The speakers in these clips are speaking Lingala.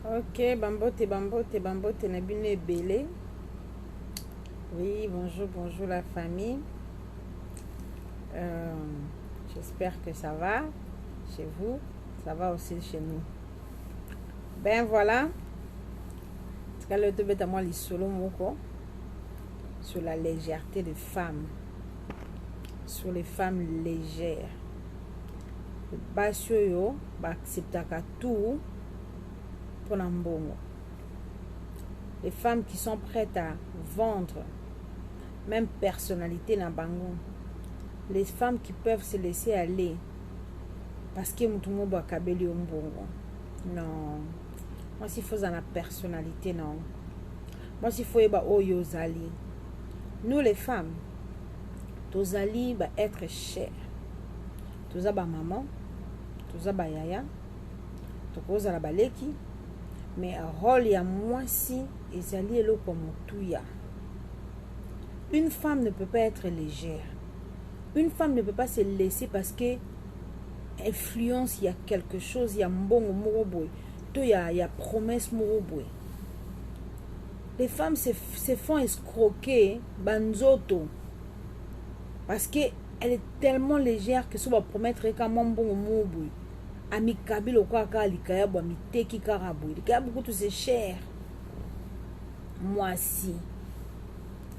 ok bambote bambote bambote na bino ebele oui bonjour bonjour la famille euh, j'espère que ça va chez vous ça va aussi chez nous ben voilà tikali tobeta mwa lisolo moko sur la légèreté de femme sur les femmes légères basi oyo baacceptaka tout mpo na mbongo les femmes qui sont prêtes à vendre même personnalité na bango les femmes qui peuvent se laisser aller parce que moto mobo akabeli yo mbongo non mwasi fozala na personnalité na yo Mwasi faut yeba oyo ozali. Nous les femmes tozali ba être cher. Toza ba maman, toza ba yaya, tokozala baleki mais rôle ya mwasi ezali eloko motuya. Une femme ne peut pas être légère. Une femme ne peut pas se laisser parce que influence ya quelque chose ya mbongo moko boye to ya, ya promesse moko boye les femmes se, se font escroquer banzoto parce que elle est tellement légère que so bapromettre ye ka mwa mbongo moo boye amikabi lokola kaka likayabu amiteki kaka boye likayabu kutu se cher mwasi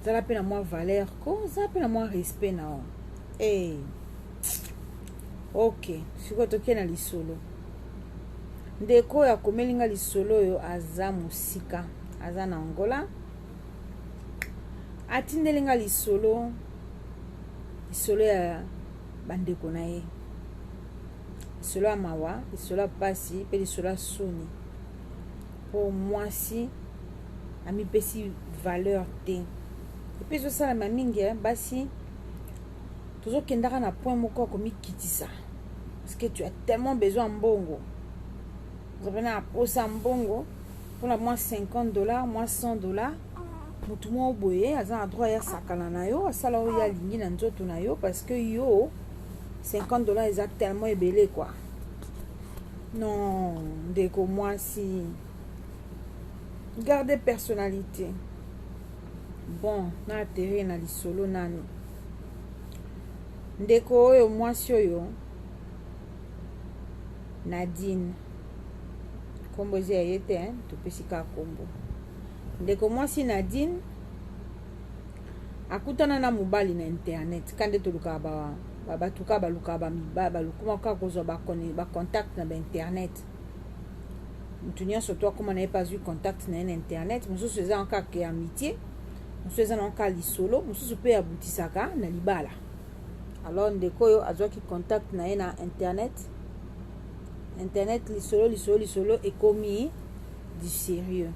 zala mpe na mwa valeur ko zala mpe na mwa respect na yo hey. ok sikoyo tokei na lisolo Ndeko oyo akomeli nga lisolo oyo aza mosika, aza na Angola. Atindeli nga lisolo lisolo ya bandeko na ye, lisolo ya mawa, lisolo ya pasi mpe lisolo ya soni. Mpo mwasi amipesi valeur te, epe ezosalama mingi eh, basi tozokendaka na point moko ya komikitisa parce que tu as tellement besoin mbongo ozape na aposa mbongo mpona mwa 50 dollar mwa 100 dollar motu moko boye aza na droit ya sakana na yo asala oyo alingi na nzoto na yo parce que yo 50 dollar eza tellement ebele quoi non ndeko mwasi garde personnalité bon na aterrir na lisolo nani Ndeko oyo mwasi oyo Nadine kombo eza ya ye te hein? topesi kaka kombo ndeko mwasi Nadine akutana na mobali na internet ka nde tolukaka ba, ba, bato kaka balukaka bamibali balukuma kaka kozwa bacontact ba na bainternet moto nyonso to akoma na ye mpe azwi contact na ye na internet mosusu eza kaka ya mitie mosusu eza na kaka lisolo mosusu mpe abutisaka na libala alors ndeko oyo azwaki contact na ye na internet internet lisolo lisolo lisolo ekomi du sérieux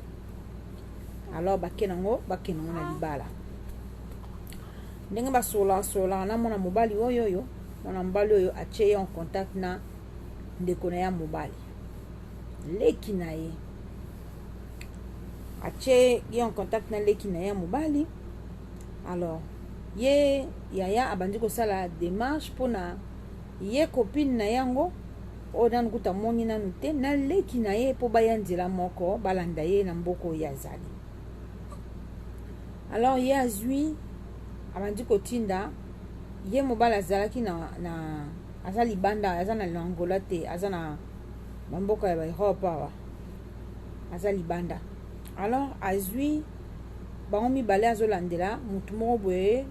alors bake nango bakende ngo na libala ndenge basolasolaka na mwana mobali oyo oyo mwana mobali oyo atye ye en contact na ndeko na ya mobali leki na ye atie ye en contact na leki na ye ya mobali alors ye yaya abandi kosala demarche mpona ye copine na yango oyo nanu kuta moni nanu te na leki na ye mpo baya nzela moko balanda ye na mboka oyo azali alors ye azwi abandi kotinda ye mobali azalaki na, na aza libanda aza na angola te aza na bamboka ya baeurope awa aza libanda alors azui bango mibale azolandela motu moko boye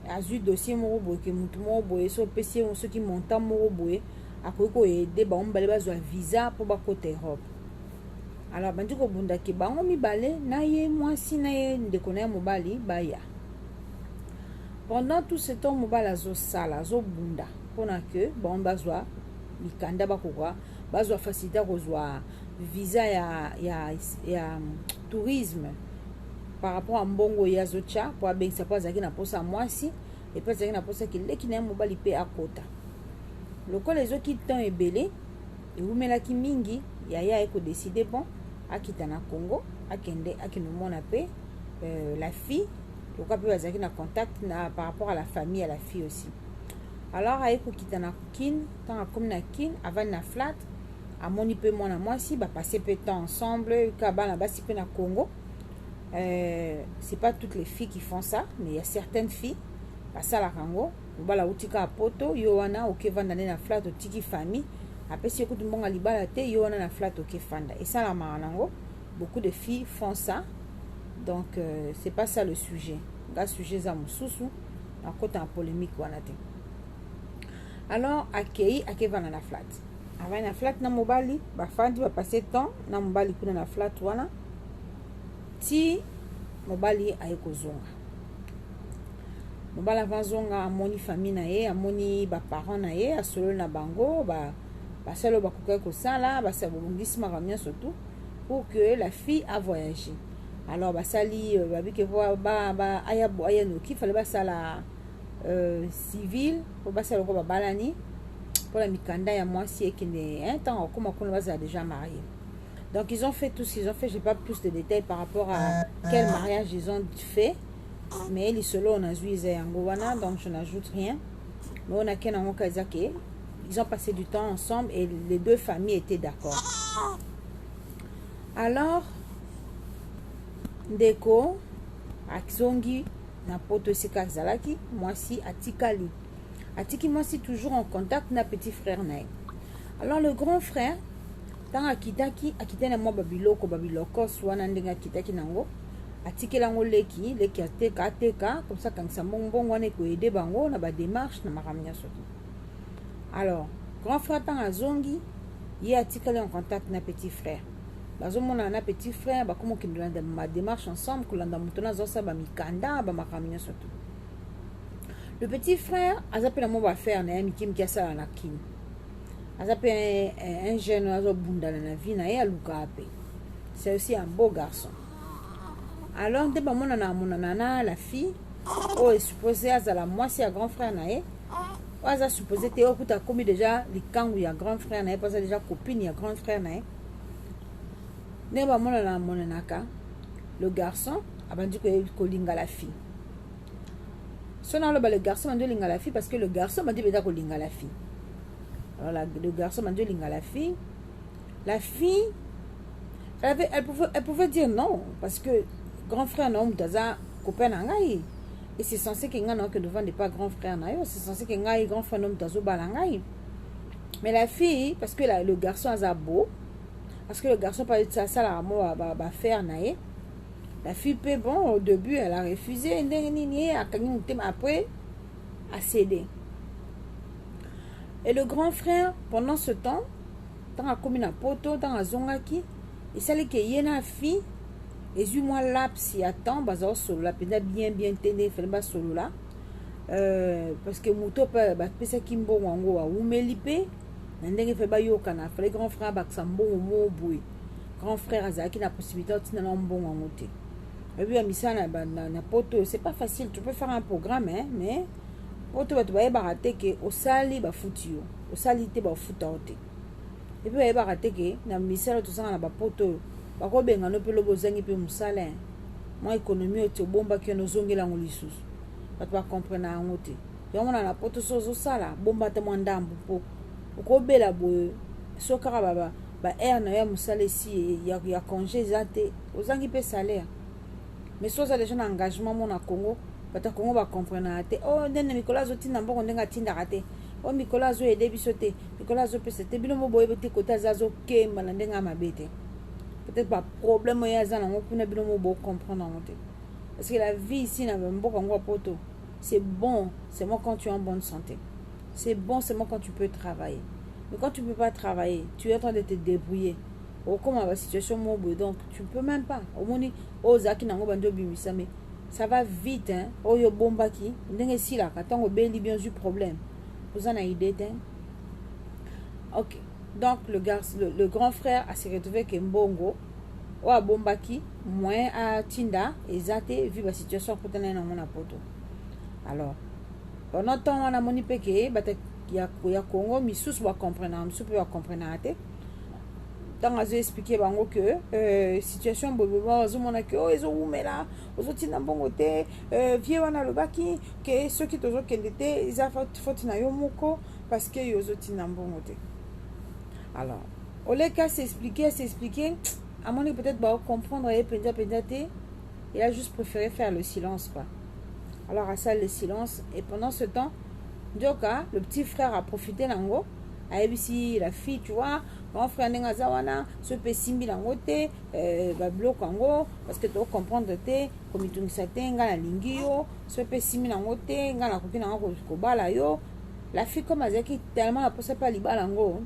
azui dossier moko boye ke motu moko boye so opesi ye soki montant moko boye akoki koyede bango mibale bazwa visa mpo bakota europe alors bandi kobunda ke bango mibale na ye mwasi na ye ndeko na ye mobali baya pendant tout ce temps mobali azosala azobunda mpona ke bango bazwa mikanda bakoka bazwa facilité ya kozwa visa ya, ya, ya tourisme par rapport ya mbongo ye azotya mpo abengisa mpo azalaki na mposa ya mwasi epe azalaki na mposa kileki na ye mobali mpe akota lokola ezoki temps ebele ewumelaki mingi yaya aye kodeside bon akita na congo akende akende omona mpe euh, la fille lokola mpe bazalaki na contact na par rapport à la famille ya la fille aussi alors aye kokita na kine ntango akomi na kin avandi na flat amoni mpe mwana mwasi bapasse mpe temps ensemble ka bana basi mpe na congo euh, c'est pas toutes les filles qui font ça mais ya certaines filles basalaka yango mobala auti kaka poto yo wana oke vanda nde na flat otiki famille apesi yo kutu mbonga libala te yo wana na flat oke fanda esalamaka nango beaucoup de filles font ça donc euh, c'est pas ça le sujet nga sujet eza mosusu nakota na polémique wana te alors akei ake vanda na flat avandi na flat na mobali bafandi bapasse temps na mobali kuna na flat wana ti mobali aye kozonga mobali ava azonga amoni famille na ye amoni baparent na ye asololi na bango basali oyo bakokaki kosala basala bobongisi makambo nyonso tout pour que la fille a voyagé alors basali euh, babike aya noki fale basala euh, civile po basi ya lokola babalani mpona mikanda ya mwasi ekende ntango akoma kuna bazala déjà marie donc ils ont fait tout ce qu'ils ont fait j'ai pas plus de détails par rapport à quel mariage ils ont fait mais lisolo oyo nazwi eza yango wana donc je n'ajoute rien mais oyo nake nango ka eza ke ils ont passé du temps ensemble et les deux familles étaient d'accord alors ndeko azongi na poto esika azalaki mwasi atikali atiki mwasi toujours en contact na petit frère na ye alors le grand frère ntango akitaki akitaki na mwa babiloko babilokos wana ndenge akitaki nango atikela yango leki leki ateka ateka komsa akangisa mbongo mbongo wana ekoyede bango na bademarche na makambo nyonso te alors grand frère ntango azongi ye atikali en contact na petit frère bazomonana na petit frère bakoma okendela ma démarche ensemble kolanda moto na azosala bamikanda bamakambo nyonso to le petit frère aza mpe na mwa baaffaire na ye mike mike asala na kin aza mpe un jeune oyo azobundana na vie na ye alukaka mpe c'est aussi un beau garçon alors nde bamonana amonana na la fille oyo esuppose azala mwasi ya grand frère na ye oyo aza suppose te oyo kuta akomi deja likangu ya grand frère na ye mpo aza deja copine ya grand frère na ye ndenge bamonana amonanaka le garçon abandi kolinga la fille so naloba le garçon abandi olinga la fille parce que le garçon abandi mpenza kolinga la fille alors la, le garçon abandi olinga la fille la fille elle, avait, elle, pouvait, elle pouvait dire non parce que grand frère na yo moto aza copain na ngai et c'est censé que ngai naokende ovanda epa grand frère na yo c'est censé que ngai grand frère no moto azobala ngai mais la fille parce que la, le garçon aza beau parce que le garçon asalaka mwa bafaire na ye la fille mpe bon au début elle a refusé ndenge nini ye akangi motema après acédé et le grand frère pendant ce temps ntango akomi na poto ntango azongaki esali ke ye na fille ezwi mwa laps ya temps baza kosolola mpenza bien bien te nde efali basolola euh, parce que moto mpe bapesaki mbongo yango awumeli mpe na ndenge efali bayokana fali grand frère abakisa mbongo moo boye grand frère azalaki na possibilité otinda na mbongo yango te oyebi ya misala na, na, na poto c'est pas facile tu peux faire un programme hein, mais poto bato bayebaka te ke osali bafuti yo osali te bafuta yo te epe bayebaka te ke na misala tozanga na bapoto oyo bakobenga no pe lobi ozangi pe musala hein mwa economie oyo ti obombaki wana ozongeli yango lisusu batu ba comprenaka yango te yango wana na poto soki ozosala bomba ata mwa ndambu po okobela boye soki kaka ba ba heure na yo ya musala esi ya conge eza te ozangi pe salaire mais soki oza deja na engagement mona congo bato ya congo bacomprenaka te o oh, ndene mikolo azotinda mbongo ndenge atindaka te o oh, mikolo azoyede biso te mikolo azopesa te bino moboyebi te kote aza azokemba na ndenge ya mabe te peut-être baproblème oyo aza nango kuna bino mo bocomprendre yango te parce que la vie ici na mboka yango ya poto c'est bon seulement quand tu es en bonne santé c'est bon seulement quand tu peux travailler mais quand tu ne peux pas travailler tu es en train de te débrouiller okoma ba situation moko boye donc tu peux même pas omoni oyo ozalaki nango bandi obimisami ça va vite hein? oyo obombaki ndenge esilaka ntango obeli bien ozwi problème oza na idée te ok donc le, garce, le, le grand frère a se retrouvé ke mbongo oyo abombaki moyen atinda eza te vu ba situation akutana ye nango na poto alors pendant temps wana amoni mpe ke bata ya, ya congo misusu bacomprenaka misusu mpe bacomprenaka te ntango azo explike bango ke euh, situation boyeboba bazomona ke oyo oh, ezowumela ozotinda mbongo te euh, vie wana alobaki ke soki tozokende te eza faute na yo moko parce que yo ozotinda mbongo te alors oleki asexplike asexplike amoni peut-être baocomprendre ye mpenza mpenza te il a juste préféré faire le silence quoi alors asali le silence et pendant ce temps nzoka le petit frère aprofite nango ayebisi la fille tu vois mon frère ndenge aza wana so mpe esimbi nango te euh, babiloko yango parce que tocomprendre te komitungisa te ngai nalingi yo so mpe esimbi nango te ngai nakoki nanga kobala yo la fille comme azalaki tellement na mposa mpe alibala yango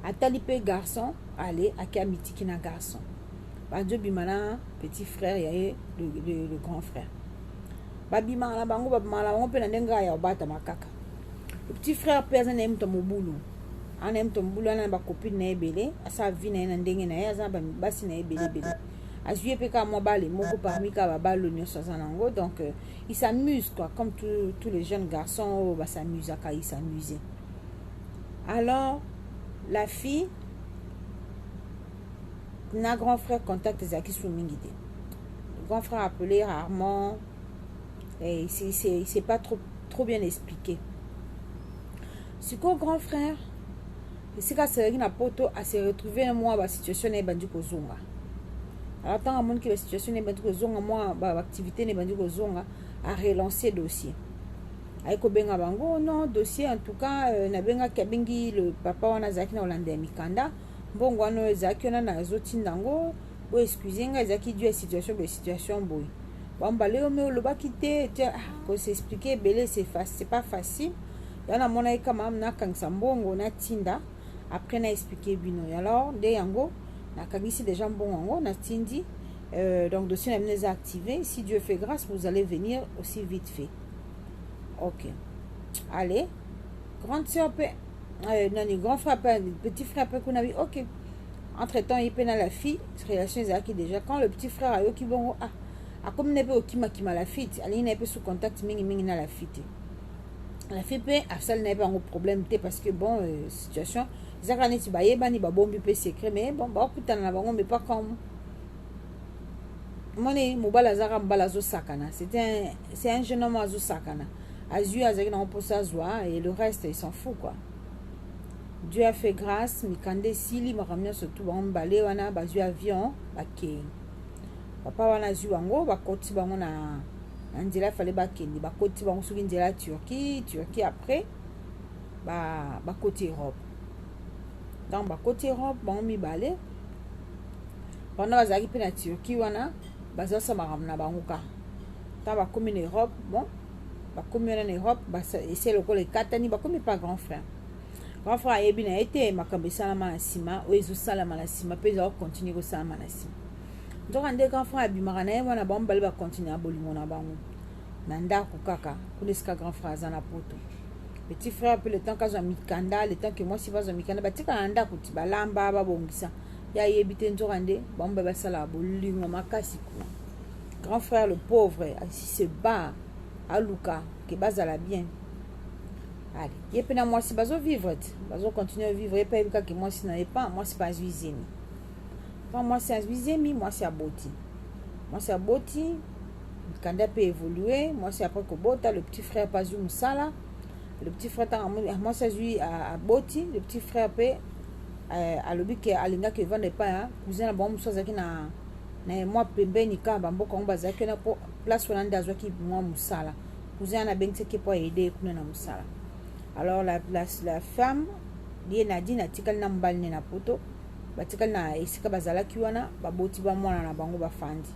atali mpe garçon ale ake amitiki na garçon bazobima na petit frère ya ye le, le, le grand frère babimaka na bango babimaka na bango mpe na ndenge ya kobatama kaka petit frère mpe aza na ye moto ya mobulu aza na ye moto ya mobulu ana na bacopine na ye ebele asala vi na ye na ndenge na ye aza na basi na ye ebele ebele azwi ye mpe kaka mwa bale moko parmi kaka babalo nyonso aza na yango donc euh, il s'amuse quoi comme tous tout les jeunes garçons oyo basamusaka il s'amuse alors la fille na grand frère contact ezalaki su mingi te grand frère appelé rarement eh, c'est pas trop, trop bien expliqué sikoyo grand frère esika asalaki na poto ase retrouve na mwa basituation na ye ebandi kozonga alors ntango amoniki basituation na ye ebandi kozonga mwa baactivité na ebandi kozonga arelance dossier aye kobenga bango oh non dossier en tout cas euh, nabengaki abengi le papa wana azalaki na kolanda ya mikanda mbongo wana oyo ezalaki wana nazotinda yango bo excuse nga ezaki dû ya situation boye situation boye bambala yo me olobaki te ah, ko s'expliquer ebele c'est pas facile ya namonaki kama nakangisa mbongo natinda après na expliquer bino alors nde yango nakangisi déjà mbongo yango natindi euh, donc dossier na bino eza activé si dieu fait grâce vous allez venir aussi vite fait ok allez grande sœur mpe euh, nani grand frère mpe petit frère mpe kuna bi ok entre temps ye mpe na la fille relation ezalaki déjà quand le petit frère ayoki bongo ah akomi na mpe kokimakima la fille te alingi na ye mpe sous contact mingimingi na la fille te la fille mpe asali na ye mpe yango problème te parce que bon euh, situation eza kaka neti bayebani babombi mpe secret mais bon bakutana na bango mais pas comme moni mobali azalaka mobali azosakana c'est un, un jeune homme azosakana azwi azalaki nango mposa azwa et le reste il s'en fout quoi dieu a fait grâce mikanda esili makambo nyonso tu bango mibale wana bazwi avion bakei papa wana azwi bango bakoti bango na, na nzela fale bakende bakoti bango soki nzela ya turquie turquie après bakoti ba europe ntango bakoti europe bango mibale wana bazalaki mpe na turquie wana bazosala makambo na bango kaka ntango bakomi na europe bon bakomi wana na europe ese lokola ekatani bakomi pa grand frère grand frère ayebi na ye te makambo esalama na nsima oyo ezosalama na nsima mpe ezala kokontinue kosalama na nsima nzoka nde grand frère abimaka na ye wana bango mibale bakontinue na bolingo na bango na ndako kaka kuna esika grand frère aza na poto petit frère mpe le temps kazwa mikanda le temps ke mwasi bazwa mikanda batikala na ndako ti balamba babongisa ye ayebi te nzoka nde bango mibale basalaka bolingo makasi kuna grand frère le pauvre asi se bat aluka ke bazala bien ale ye mpe na mwasi bazovivre te bazocontinue vivre ye mpe ayebi kaka mwasi na ye pa mwasi mpe azwi zemi pa mwasi azwi zemi mwasi aboti mwasi aboti mikanda mpe évolue mwasi après kobota le petit frère mpe azwi mosala le petit frère ntango mwasi azwi aboti le petit frère mpe euh, alobi ke alingaki evanda epai ya cousin na bango mosusu azalaki na na ye mwa pembeni kaka bamboka yango bazalaki wana mpo place wana nde azwaki mwa mosala cousin wana abengisaki ye mpo aide ye kuna na mosala alors la, la, la femme ye nadine atikali na mobali ne na poto batikali na esika bazalaki wana baboti ba mwana na bango bafandi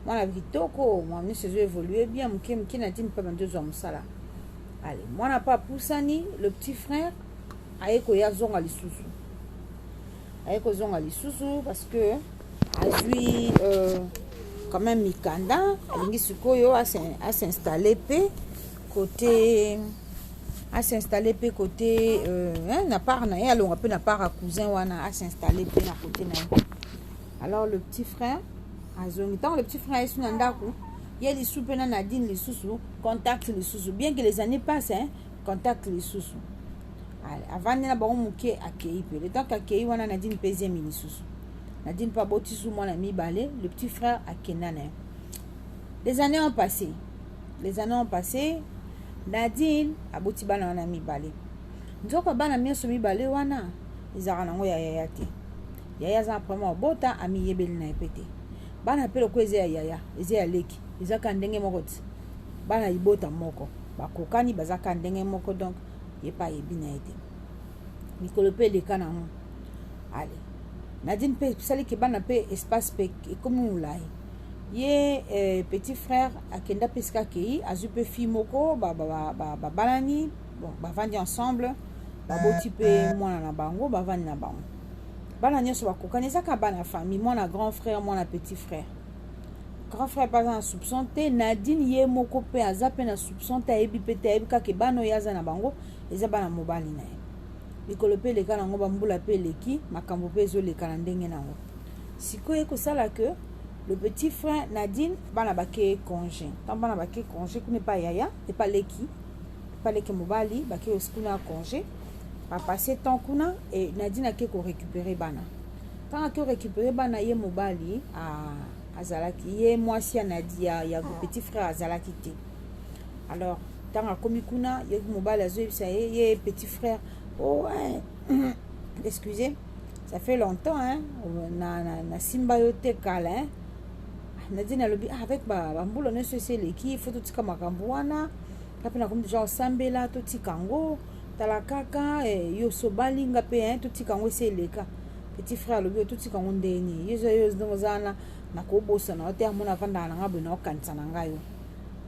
mwana kitoko mwa nyonso ezo évolue bien moke moke nadine mpe bandi ozwa mosala ale mwana mpe apusani le petit frère aye koya azonga lisusu aye kozonga lisusu parce que azwi euh, quand même mikanda alingi sikoyo asinstalle mpe côté asinstalle mpe côté euh, hein, na part na ye alonga mpe na part ya cousin wana asinstalle mpe na côté na ye alors le petit frère azongi ntango le petit frère ayesu na ndako ye lisu mpe na nadine lisusu contact lisusu bien que les années passe hein, contact lisusu avandi na bango moke akei mpe le temps ke akei wana nadine mpe ezemi lisusu nadine mpe aboti su mwana mibale le petit frère akenda na ye les années ont passé les années ont passé nadine aboti bana wana mibale nzoka bana nyonso mibale wana ezalaka nango ya yaya te yaya aza na problème ya kobota amiyebeli na ye mpe te bana mpe lokola eza ya yaya eza ya leki eza kaka ndenge moko ti bana libota moko bakokani baza kaka ndenge moko donc ye mpe ayebi na ye te mikolo mpe eleka na yango ale nadine mpe esali ke bana mpe espace mpe ekomi molai ye eh, petit frère akenda mpe esika akei azwi mpe fille moko babalani bon bavandi ensemble baboti mpe mwana na bango bavandi na bango bana nyonso bakokani ezaka bana famille mwana grand frère mwana petit frère grand frère mpe aza na soupçon te nadine ye moko mpe aza mpe na soupçon te ayebi mpe te ayebi kaka ebana oyo aza na bango eza bana mobali na ye mikolo mpe eleka na yango bambula mpe eleki makambo mpe ezoleka na ndenge na yango sikoyo ekosala ke le petit frère nadine bana bake congé ntango bana bake congé kuna epa yaya epa leki epa leki mobali bake osi kuna ya congé bapasse temps kuna e nadine ake korécupere bana Kaka to récupérer bana ye mobali ah, azalaki ye mwasi ya Nadi ya, ya ah. petit frère azalaki te. Alors ntango akomi kuna ye mobali azoyebisa ye ye petit frère oh hein, excusez ça fait longtemps hein, na, na, na simba yo te kala hein. Nadi nalobi ah, avec ba, ba mbula nyonso esi eleki il faut totika makambo wana kape nakomi deja osambela totika yango tala kaka eh, yo osobali nga mpe eh, totika yango esi eleka petit frère alobi yo totika yango ndenge nini yo yo ndenge oza wana nakobosana yo te amona afandaka na ngai boye naokanisa na ngai yo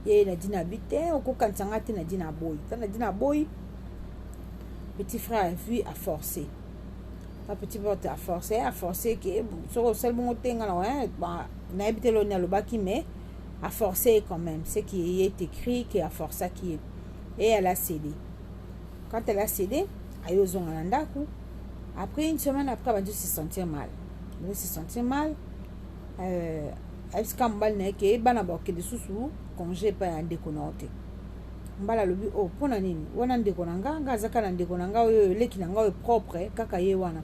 ye nadi na bi te okokanisa ngai te nadi na boyi ta nadi na boyi petit frère vue a forcé ta petit frère te a forcé a forcé ke soki osali bongo te ngai na nayebi te loni alobaki mais a forcé quand même ce qui est écrit ke a forcaki ye et elle a cédé quand elle a cédé aye ozonga na ndako après une semaine après abandi se sentir mal abandi se sentir mal euh, ayebisi kaka mobali na ye ke bana bakokende susu congé epai ya ndeko na yo te mbala alobi o oh, mpo na nini wana ndeko na nga nga azaka na ndeko na nga oyo eleki na nga oyo propre kaka ye wana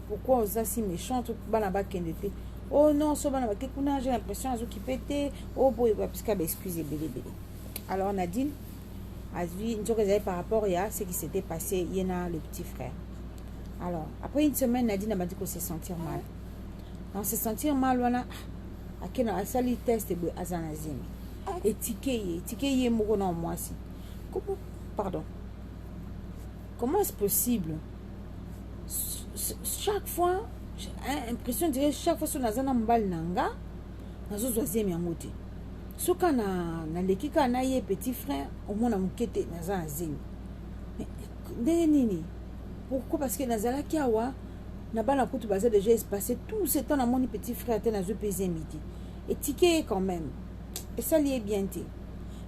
pourquoi oza si méchante bana bakende te o oh, non so bana bake kuna j'ai l'impression azokipe te o oh, boye bapiska baexcuse ebele ebele alors Nadine azwi nzoka ezali par rapport ya ce qui s'était passé ye na le petit frère alors après une semaine Nadine abandi ko se sentir mal na se sentir mal wana ah, akena asali test boye aza na zemi etike ye etike ye moko na mwasi comment pardon comment est-ce possible chaque fois impression dire chaque fois so naza na mobali na nga nazozwa zemi yango te soka na naleki kaka na ye petit frère omona moke te naza na zemi ndenge nini pourquoi parce que nazalaki awa na bana kutu baza déjà espace tout ce temps namoni petit frère te nazwi mpe zemi te etike ye quand même esali ye bien te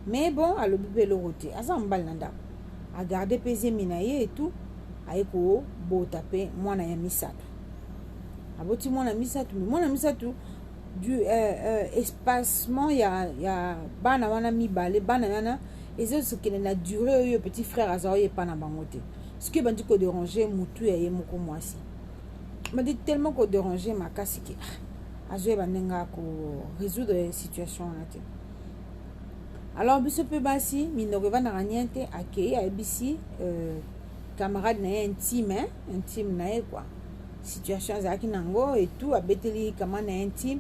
mais bon alobi mpe eloko te aza mobali na ndako agarde mpe zemi na ye etout aye kobota mpe mwana ya misato aboti mwana misato me mwana misato du euh, euh, espacement ya, ya bana wana mibale bana wana ezokende na dure oyo petit frère aza oyo epa na bango te soki ebandi koderange motu ya ye moko mwasi bandi tellement koderange makasi ke ah, azoyeba ndenge ya koresoudre situation wana te alors biso mpe basi minoko evandaka nien te akei ayebisi euh, camarade na ye intime intime na ye kua situation azalaki nango et tout abeteli kamana intime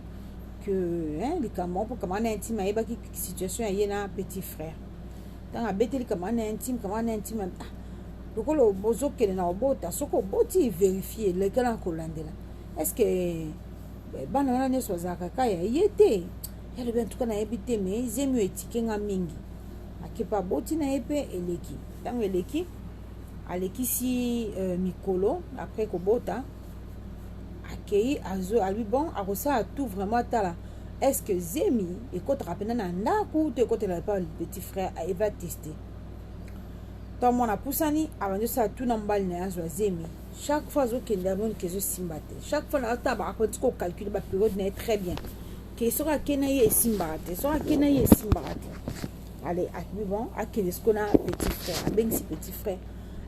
que hein, likambo moko mpo kamana intime ayebaki situation ya ye na petit frère ntango abeteli kamana intime kamana intime ah, lokola bozokende na obota soki oboti verifie lekala na kolandela est ce que eh, bana wana nyonso bazalaka ka ya ye te yalobi antuka nayebi te me zemi oyo etike nga mingi akepa aboti na ye mpe eleki ntango eleki alekisi euh, mikolo après kobota akei azo alui bon akosala tout vraiment atala est ce que zemi ekotaka mpena na ndako to ekotela epa petit frère eva teste to mwana apusani abandi osala tout na mobali na ye azwa zemi chaque fois azokende amoni ke ezosimba te chaque fois naataba akoki kocalcule baperiode na ye très bien ke soki akei na ye esimbaka te soki akei na ye esimbaka te ale akibi bon akende siko na petit frère abengisi petit frère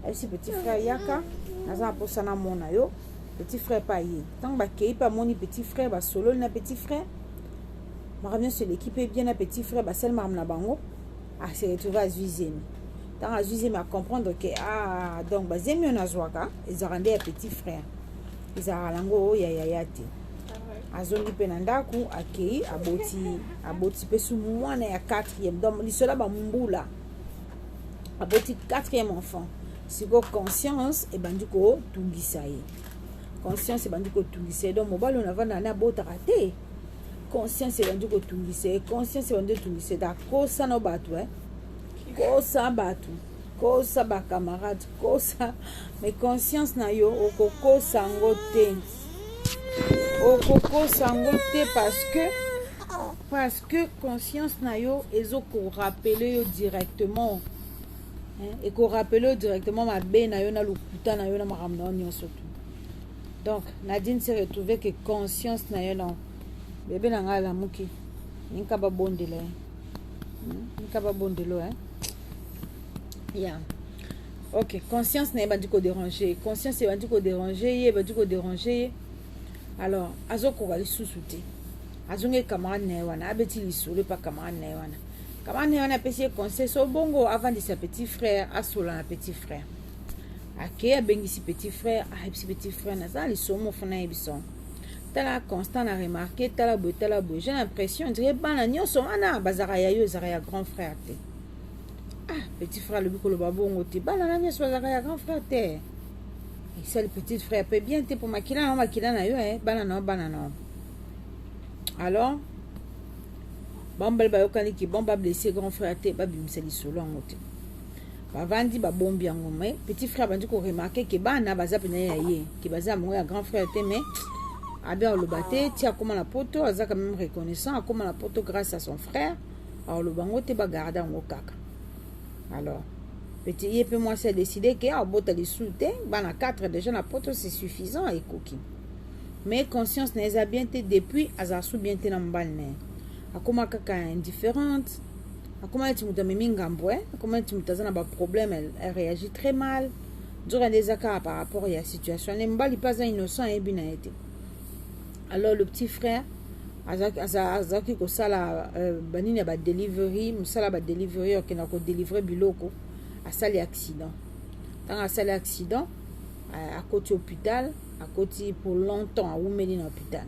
ayebisi petit frère yaka naza na mposa namona yo petit frère mpe aye ntango bakei mpe amoni petit frère basololi na petit frère makambo nyonso eleki mpe bien na petit frère basali makambo na bango ase retrouve azwi zemi ntango azwi zemi acomprendre ke ah donc bazemi oyo nazwaka ezalaka nde ya petit frère ezalaka nango oyo ya yaya te azongi mpe na ndako akei aboti aboti mpe su mwana ya quatrième donc lisola bambula aboti quatrième enfant sikoyo conscience ebandi kotungisa ye conscience ebandi kotungisa ye donc mobali oyo navanda na abotaka te conscience ebandi kotungisa ye conscience ebandi kotungisa ye akosa na bato e kosa bato kosa ba camarade kosa mais conscience na yo okokosa yango te okokosa yango te parce que parce que conscience na yo ezokorapele yo directement ekorapele yo directement mabe na yo na lokuta na yo na makambo na yo nyonso tu donc nadine se retrouve que conscience na yo non bebe na ngai alamuki ninka babondela ye ninka babondelo eh? yeah. ok conscience na ye ebandi koderange ye conscience ebandi koderange ye ebandi koderange ye alors azokoka lisusu te azongi camarade na ye wana abeti lisolo epa camarade na ye wana camarade na ye wana apesi ye conseil so bongo avandisa petit frère asola na petit frère ake abengisi petit frère ayebisi petit frère naza lisomo fana ayebisa tala constant na remarke tala boye tala boye j'ai l'impression ondire bana nyonso wana bazalaka ya yo ezalaka ya grand frère te ah petit frère alobi koloba bongo te bana na nyonso bazalaka ya grand frère te esali petite frère mpe bien te mpo makila na yo makila na yo eh, bana na yo bana na yo alors bambali bayokani ki bon bablesse grand frère te babimisa lisolo yango te bavandi babombi yango mai petit frère abandi koremarke ke bana baza mpena ya ye ke baza yango ya grand frère te mais abi aloba te ti akóma na poto azaka meme reconnaissant akóma na poto grâce à son frère aoloba yango te bagarde yango kaka alors peti ye mpe mwasi adeside ke abota lisusu te bana 4 déjà na poto c'est suffisant ekoki mais conscience na ye eza bien te depuis azala su bien te na mobali na ye akoma kaka indifférente akoma neti moto amemi ngambo e akoma neti moto aza na baproblème elle réagit très mal nzoka nde eza kaka par rapport ya situation ne mobali mpe aza innocent ayebi na ye te alors le petit frère azalaki kosala euh, banini ya badelivery mosala ya badelivery akenda kodelivre biloko asali accident ntango asali accident euh, akoti hôpital akoti pour longtemps awumeli na hôpital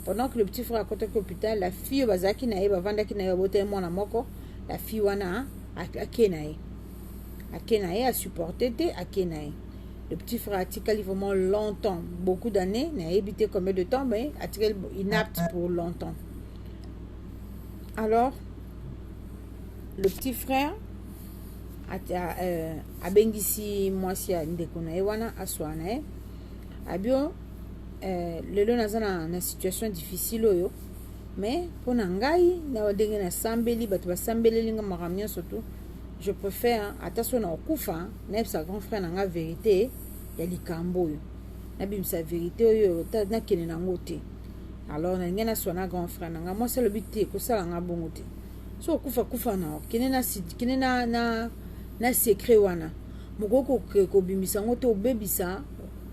pendant que le petit frère akotaki hôpital la fille oyo bazalaki na ye bavandaki na ye babotaki mwana moko la fille wana ake na ye ake na ye asupporte te ake na ye le petit frère atikali vraiment longtemps beaucoup d'années nayebi te combien de temps mais atikali inapte pour longtemps alors le petit frère euh, abengisi mwasi ya ndeko na ye wana aswa na ye abio euh, lelo naza na, na situation difficile oyo mais mpo na ngai na ndenge nasambeli bato basambeleli nga makambo nyonso tout Je prefère ata so na okufa nayebisa grand frère na nga verite ya likambo oyo nabimisa verite oyo nakende nango te alors nalingi naswa na grand frère na nga mwasi alobi te ekosala nga bongo te so okufa kufa na okende na kende na na na secret wana mokoki kobimisa yango te obebisa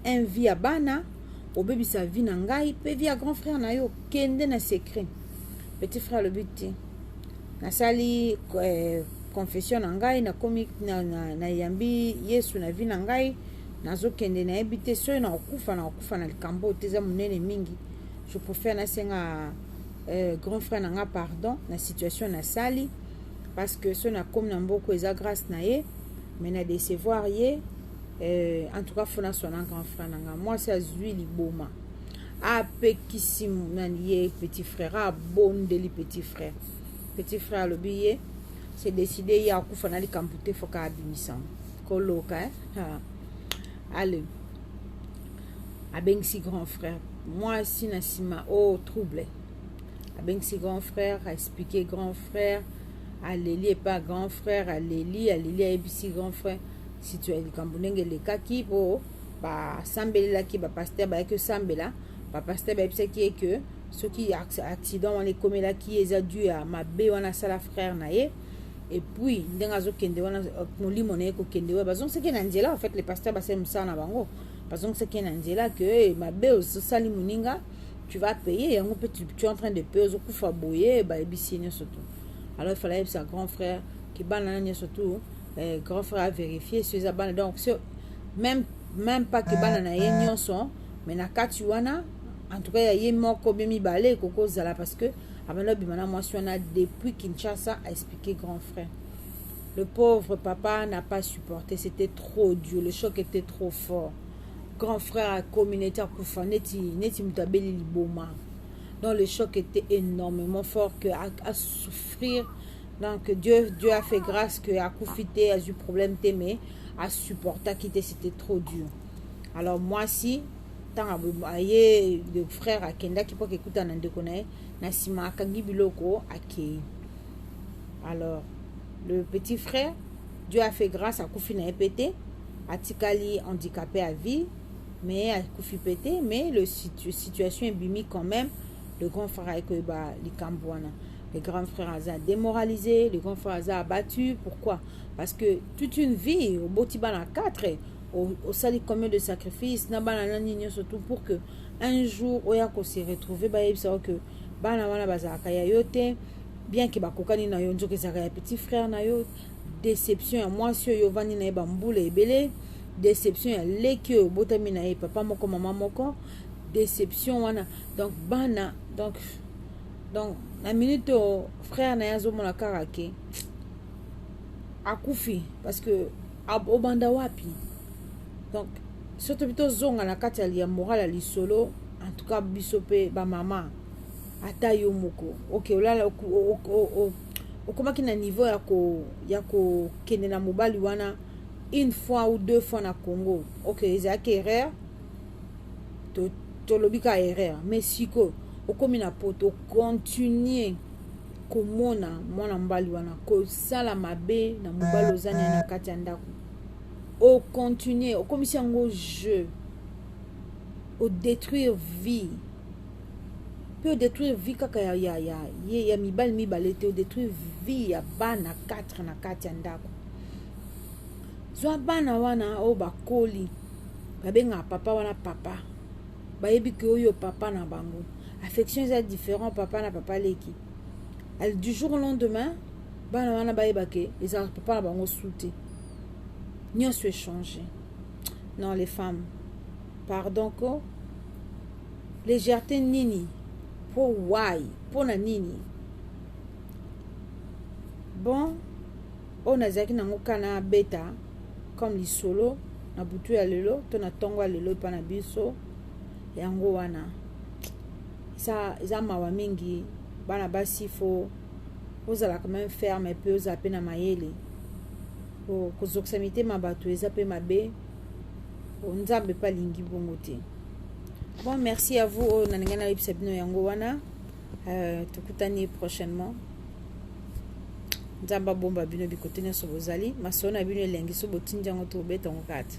un vie ya bana obebisa vie na ngai mpe vie ya grand frère na yo kende na secret petit frère alobi te nasali eh, confession na ngai nakomi nayambi na, na yesu na vi na ngai nazokende nayebi te soki nakokufa nakokufa na likambo oyo te eza monene mingi je préfère nasenga euh, grand frère na ngai pardon na situation nasali parce que soki nakomi na mboko eza grâce na ye mais na décevoir ye euh, en tout cas fona sona grand frère na ngai mwasi azwi liboma apekisi nani ye petit frère abondeli petit frère petit frère alobi ye se décide ye akufa na likambo te foka abimisama koloka eh? ale abengisi grand frère mwasi na nsima o oh, trouble abengisi grand frère aexplike grand frère aleli epa grand frère aleli aleli ayebisi grand frère situ ya likambo ndenge elekaki po basambelelaki bapastere bayaki osambela bapastere bayebisaki ye ke soki accident wana ekomelaki ye eza due ya mabe wana asala frère na ye epuis ndenge azokende wana euh, molimo na ye kokende wana bazongisaki ye na nzela en fait le pasteur basali mosala na bango bazongisaki ye na nzela ke eh, mabe osali moninga tu vas payer yango mpe tu es en train de payer ozokufa boye bayebisi ye nyonso tu alors ifala yebisa grand frère kibana na nyonso tu eh, grand frère a vérifier so eza bana donc so même même pas que bana na ye nyonso mais na kati wana en tout cas ya ye moko be mibale ekoki kozala parce que abanda obima na mwasi wana depuis kinshasa a expliqué grand frère le pauvre papa n'a pas supporté c'était trop dur le choc était trop fort grand frère akomi neti akufa neti neti moto abeli liboma donc le choc était énormément fort que asouffrir à, à Donc Dieu, Dieu a fait grâce que akufi te azwi problème te mais asupportaki te c'était trop dur alors mwasi ntango aye le frère akendaki mpo akekuta na ndeko na ye na nsima akangi biloko akei alors le petit frère dieu a fait grâce akufi na ye mpe te atikali handicapé à vie mais akufi mpe te mais le situ, situation ebimi quand même le grand frère aye koyeba likambo wana le grand frère aza démoralisé le grand frère aza abattu pourquoi parce que toute une vie oboti bana 4 osali combien de sacrifice na bana na nini nyonso tout pour que un jour oya kose retrouve bayebisa yo que bana wana bazalaka ya yo te bien ke bakokani na yo nzoka ezalaka ya petit frère na yo déception ya mwasi oyo ovandi na ye bambula ebele déception ya leki oyo obotami na ye papa moko mama moko déception wana donc bana donc donc na minute oyo frère na ye azomona kaka ke akufi parce que obanda wapi donc soki tobi tozonga na kati ya moral ya lisolo en tout cas biso mpe bamama ata yo moko oke olala okomaki na niveau ya ko ya kokende na mobali wana une fois ou deux fois na congo oke ezalaki erreur tolobi ka erreur mais siko okomi na poto continue komona mwana mobali wana kosala mabe na mobali oza naye na kati ya ndako ocontinue okomisi yango jeu odétruire vie mpe odétruire vie kaka ya, ya, ya, ya, ya mibali mibale te odétruire vie ya bana 4 na kati ya ndako zwa bana wana oyo bakoli babengaka papa wana papa bayebi ke oyo papa na bango affection eza différent papa na papa leki du jour au lendemain bana wana bayeba ke ezalaka papa na bango su te nyonso echange non les femmes pardon ko légèreté nini mpo why mpo na nini bon oyo nazalaki nango kana beta comme lisolo na butu ya lelo to na ntongo ya lelo epai na biso yango wana eza, eza mawa mingi bana basi fo ozala quand même ferme mpe ozala mpe na mayele po kozokisa mitema bato eza mpe mabe po nzambe mpe alingi bongo te bon merci ya vous oyo nalingai nayebisa bino yango wana Euh, tokutani prochainement nzambe abomba bino bikote nyonso bozali masolo na bino elengi so botindi yango tobeta yango kati